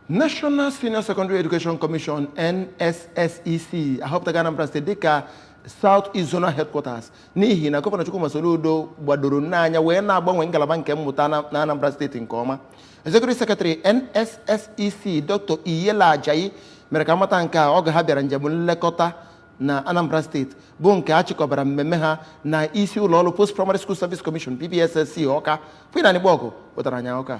National Senior Secondary Education Commission NSSEC ahọpụtago Anambra State dịka South East Zonal Headquarters n'ihi na gọvanọ Chukwuma Soludo gbadoro n'anya wee na-agbanwe ngalaba nke mmụta na Anambra State nke ọma Executive Secretary NSSEC Dr. Iyela Ajayi mere ka a mata nke a oge ha bịara njem nlekọta na Anambra State bụ nke a chịkọbara mmemme ha na isi ụlọọrụ Post Primary School Service Commission PPSSC Ọka Queen Anigbogu pụtara anya Ọka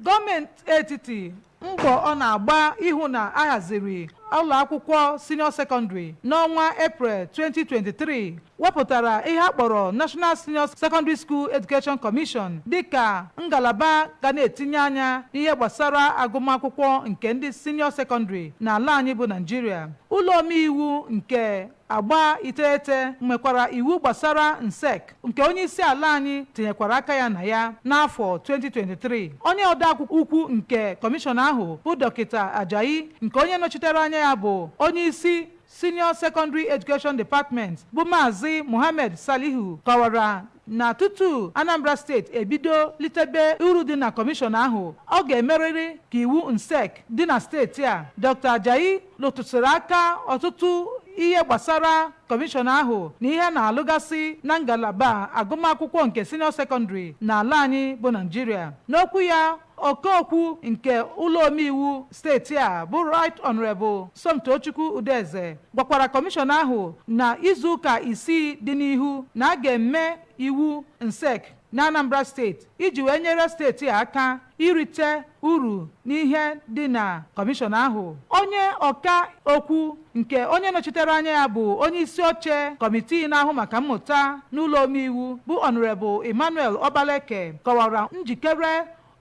Gọọmenti etiti mbọ ọ na-agba ịhụ na a haziri ụlọakwụkwọ senior secondary n'ọnwa Eprel 2023 wepụtara ihe a kpọrọ National Senior Secondary School Education Commission dịka ngalaba ga na-etinye anya n'ihe gbasara agụmakwụkwọ nke ndị senior secondary n'ala anyị bụ Naijiria. Ụlọomeiwu nke Agba iteghete nwekwara iwu gbasara NSSEC nke onyeisiala anyị tinyekwara aka ya na ya n'afọ 2023. Onye odeakwụkwọ ukwu nke kọmishọn ahụ bụ Dọkịta Ajayi nke onye nọchitere anya ya bụ onyeisi Senior Secondary Education Department bụ Maazị Mohammed Salihu kọwara na tutu Anambra steeti ebido litebe uru dị na kọmishọn ahụ, ọ ga-emerịrị ka iwu NSSEC dị na steeti a. Doctor Ajayi lụtụsịrị aka ọtụtụ ihe gbasara kọmishọn ahụ na ihe a na-alụgasị na ngalaba agụmakwụkwọ nke siniọ sekọndịrị n'ala anyị bụ Naịjirịa. N'okwu ya ọka okwu nke ụlọomeiwu steeti a bụ Right Honourable Somtochukwu Udeze gwakwara kọmishọn ahụ na izuụka isii dị n'ihu na a ga-eme iwu NSSEC n'Anambra steeti iji wee nyere steeti a aka irite uru n'ihe dị na kọmishọn ahụ. Onye ọka okwu nke onye nọchitere anya ya bụ onye isi oche kọmitii na-ahụ maka mmụta n'ụlọ omeiwu bụ Honourable Emmanuel Okpaleke kọwara njikere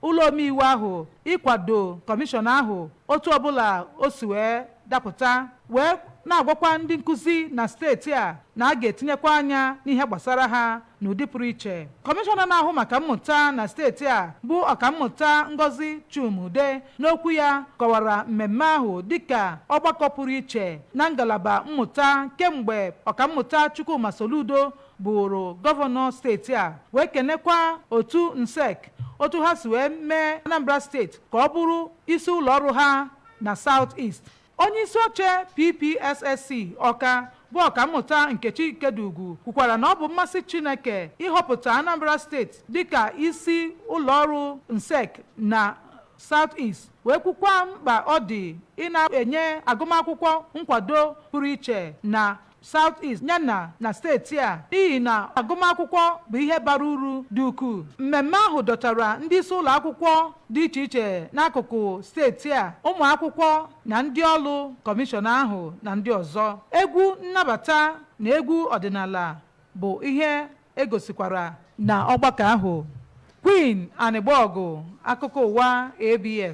ụlọ omeiwu ahụ ịkwado kọmishọn ahụ otu ọbụla o si wee dapụta wee na-agwakwa ndị nkụzi na steeti a na a ga-etinyekwa anya n'ihe gbasara ha N'ụdị pụrụ iche, kọmishọna na-ahụ maka mmụta na steeti a bụ ọkammụta Ngozi Chuma-Udeh n'okwu ya kọwara mmemme ahụ dịka ọgbakọ pụrụ iche na ngalaba mmụta kemgbe ọkammụta Chukwuma Soludo bụụrụ gọvanọ steeti a wee kenekwa otu NSSEC otu ha si wee mee Anambra steeti ka ọ bụrụ isi ụlọ ọrụ ha na South East. Onyeisioche PPSSC Ọka bụ Ọkammụta Nkechi Ikediugwu kwukwara na ọ bụ mmasị Chineke ịhọpụta Anambra steeti dịka isi ụlọọrụ NSSEC na South East wee kwukwa mkpa ọ dị ịna-enye agụmakwụkwọ nkwado pụrụ iche na South East yana na steeti a n'ihi na agụmakwụkwọ bụ ihe bara uru dị ukwuu. Mmemme ahụ dọtara ndị isi ụlọ akwụkwọ dị iche iche n'akụkụ steeti a, ụmụ akwụkwọ na ndị ọrụ kọmishọn ahụ na ndị ọzọ. Egwu nnabata na egwu ọdịnala bụ ihe e gosikwara na ọgbakọ ahụ. Queen Anịgbọgụ, Akụkọ Ụwa, ABS.